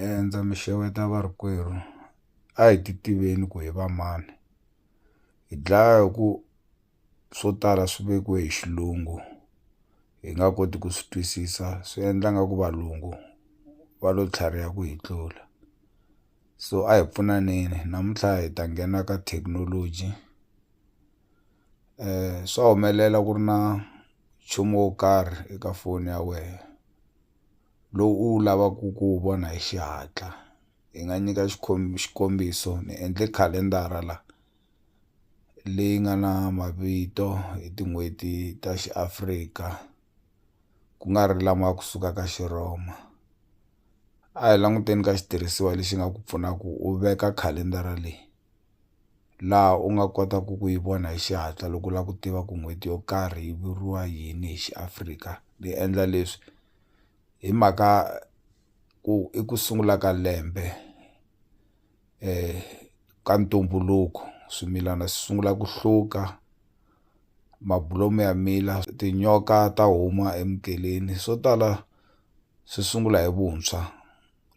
E ndza mi xeweta varikwerhu a hi ti tiveni ku hi va mani hi dlaya hi ku swo tala swi vekiwe hi xilungu hi nga koti ku swi twisisa swi endla nga ku valungu va lo tlhariha ku hi tlula so a hi pfunaneni namuntlha hi ta nghena ka thekinoloji swa humelela ku ri na nchumu wo karhi eka foni ya wehe. lowu u wu lavaka ku wu vona hi xihatla hi nga nyika xikombiso ni endle khalendara la leyi nga na mavito hi tin'hweti ta xiAfrika ku nga ri lama ya kusuka ka Xirhoma a hi languteni ka xitirhisiwa lexi nga ku pfuna ku u veka khalendara leyi. laha u nga kotaku ku yi vona hi xihatla loko u la ku tiva ku n'hweti yo karhi yi vuriwa yini hi Xiafrika ni endla leswi hi mhaka ku i ku sungula ka lembe ka ntumbuluko swimilana swi sungula ku hluka mabulomu ya mila tinyoka ta huma emukeleni swo tala swi sungula hi vuntshwa.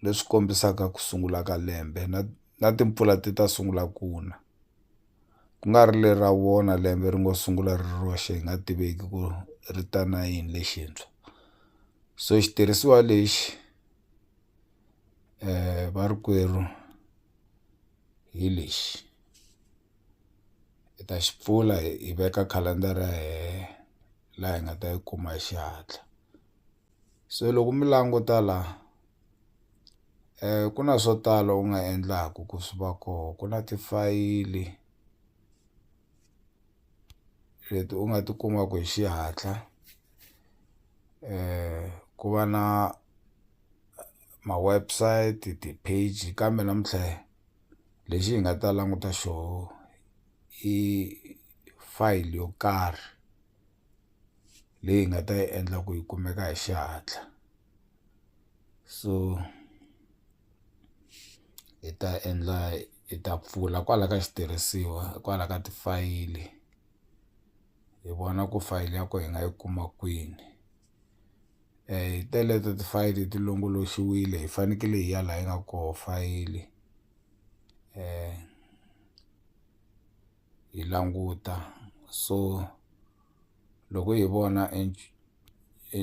leswi kombisaka ku sungula ka lembe na na timpfula ti ta sungula ku na ku nga ri lera wona lembe ri ngo sungula ri ri roxe hi nga tiveki ku ri ta na yini lexintshwa so xitirhisiwa lexi varikwerhu hi lexi hi ta xi pfula hi veka khalendara ya hehe laha hi nga ta yi kuma hi xihatla. se loko mi languta la ku na swo tala u nga endlaku ku swi va koho ku na tifayili leti u nga ti kumaku hi xihatla ku va na ma-website ti-page kambe namuntlha lexi hi nga ta languta xoho i fayili yo karhi. leyi hi nga ta yi endla ku yi kumeka hi xihatla so hi ta endla hi ta pfula kwala ka xitirhisiwa kwala ka tifayili hi vona ku fayili ya kona hi nga yi kuma kwini hi teleto tifayili ti longoloxiwile hi fanekele hi ya laha yi nga koho fayili . hi languta so loko hi vona e e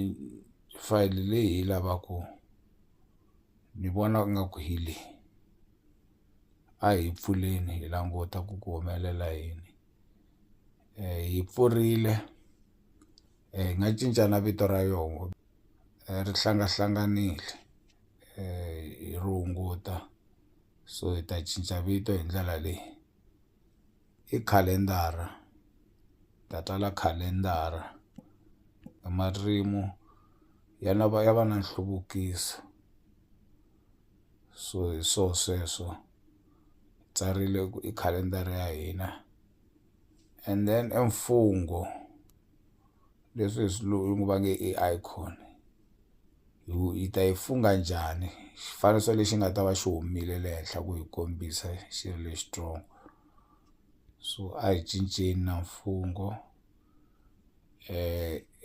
fayili leyi hi yi lavaku ni vona nga ku hi leyi a hi yi pfuleni hi languta ku ku humelela yini hi yi pfurile hi nga cinca na vito ra yoho ri hlangahlanganile hi ri hunguta so hi ta cinca vito hi ndlela leyi. i khalendara hi ta tsala khalendara hi marito ya lava ya va na nhluvukiso so hi swo sweswo hi tsarile ku i khalendara ya hina and then i mfungho. leswi hi swilungu va nge i icon hi ku hi ta yi fungha njhani xifaniso lexi nga ta va xi humile le henhla ku hi kombisa xi ri lexi strong so a hi cinceni na mfungho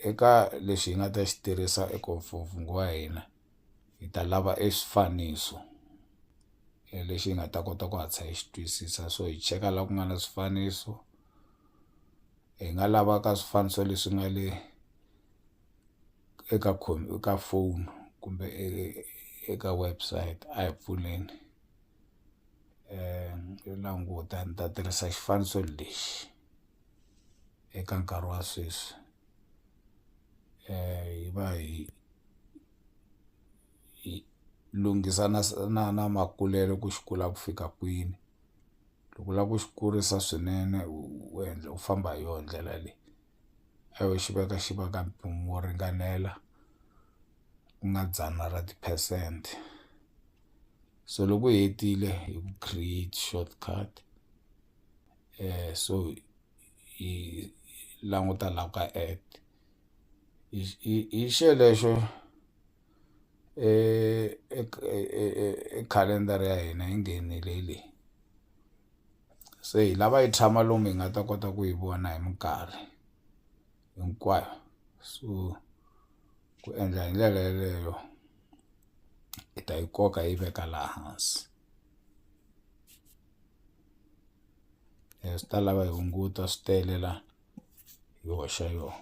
eka lexi hi nga ta xi tirhisa eka mfungho wa hina hi ta lava e swifaniso lexi hi nga ta kota ku hatlisa hi xi twisisa so hi cheka la ku nga na swifaniso . hi nga lavaka swifaniso leswi nga le eka ka phone kumbe eka website a hi pfuleni yo languta ni ta tirhisa xifaniso lexi eka nkarhi wa sweswi hi va hi hi lunghisa na na na makulelo ku xi kula ku fika kwini. loko u lava ku xi kurisa swinene u u endla u famba hi yona ndlela leyi a wu xi veka xi va ka mpimo wo ringanela ku nga dzana ra ti-percent so loko u hetile hi ku create short cut so hi languta la ka add hi hi hi xelexo. e calendar ya hina yi nghenile leyi se hi lava yi tshama lomu hi nga ta kota ku yi vona hi minkarhi hinkwayo so ku endla hi ndlela yeleyo hi ta yi koka hi yi veka laha hansi swi ta lava hi hunguta swi tele la hi hoxa yoho.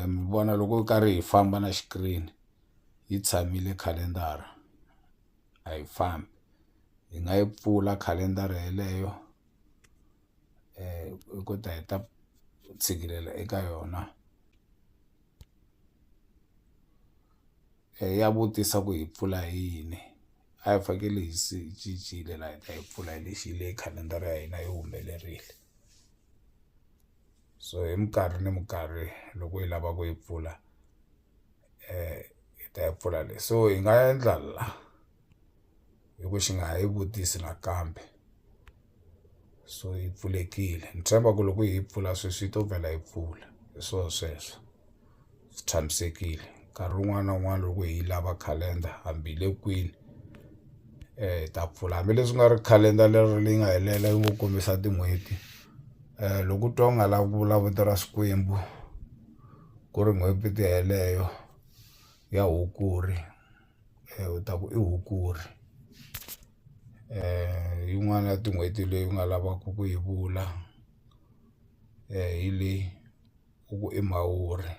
mi vona loko hi karhi hi famba na xikirini yi tshamile khalendara a yi fambi hi nga yi pfula khalendara yeleyo hi ku ta hi ta tshikilela eka yona ya vutisa ku hi pfula hi yini a hi fanekele hi se hi cincile la hi ta yi pfula hi lexi hi le khalendara ya hina yi humelerile. so hi minkarhi ni minkarhi loko hi lava ku yi pfula hi ta yi pfula le so hi nga endla la hi ku xi nga ha yi vutisi nakambe so yi pfulekile ni tshemba ku loko hi yi pfula sweswi yi to vhela yi pfula hi swo sweswo. swi tshamisekile nkarhi wun'wana na wun'wana loko hi yi lava calendar hambi hi le kwini hi ta pfula hambileswi ku nga ri calendar leri leyi nga helela yi ngo kombisa tin'hweti loko u twa u nga lavi ku vula vito ra Xikwembu ku ri n'hweti yeleyo ya Hukuri u ta ku i Hukuri hi yin'wana ya tin'hweti leyi u nga lavaka ku yi vula hi leyi. u ku i mhawuri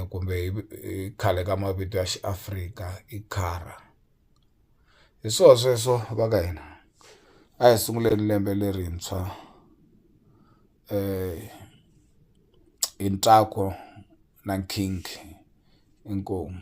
kumbe hi hi khale ka mavito ya xiafrika i khara hi swona sweswo va ka hina a hi sunguleni lembe lerintshwa hi ntsako na nkhinkhi inkomu.